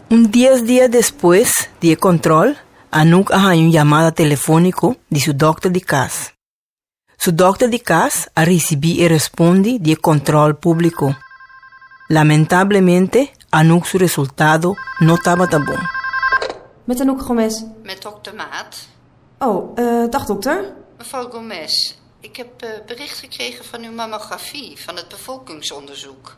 Un dies dia despues di e control, Anouk a haña un yamada telefonico di su dokter di cas. Su dokter di cas a ricibi e respondi di e control publico. Lamentablemente, Anouk su resultado no tabata bon. Met Anouk Gomes. Met dokter Maat. Oh, dag dokter. Mevrouw Gomes, ik heb bericht gekregen van uw mammografie van het bevolkingsonderzoek.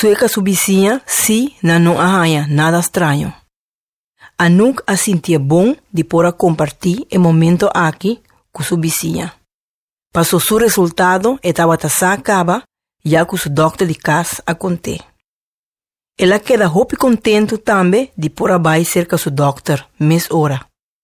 Sueca su bisiña si nan no a haña nada straño. Anouk a sintié bon di por a compartí e momento aki cu su bisiña. Paso su resultado e tabata sa caba ya cu su dokter di cas a cont'é. El a keda hopi contento tambe di por a bai cerca su dokter mes ora.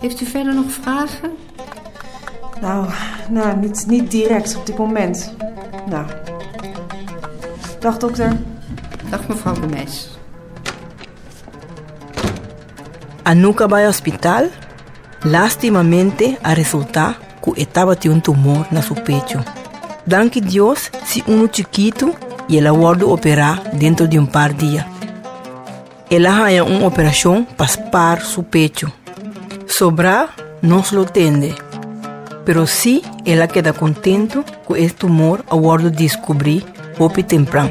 Heeft u verder nog vragen? Nou, nou niet, niet direct op dit moment. Nou. Dag dokter. Dag mevrouw de Meis. A nunca bai hospital, lastimamente a resulta cu e tabatin un tumor na su pecho. Danki Dios si uno chikitu y el a wordo opera dentro di un par dia. El a haña un operashon pa spar su pechu. Sobrá nos lo tende, pero sí el a keda kontentu ku e tumor a wòrdu diskubrí hopi tempran.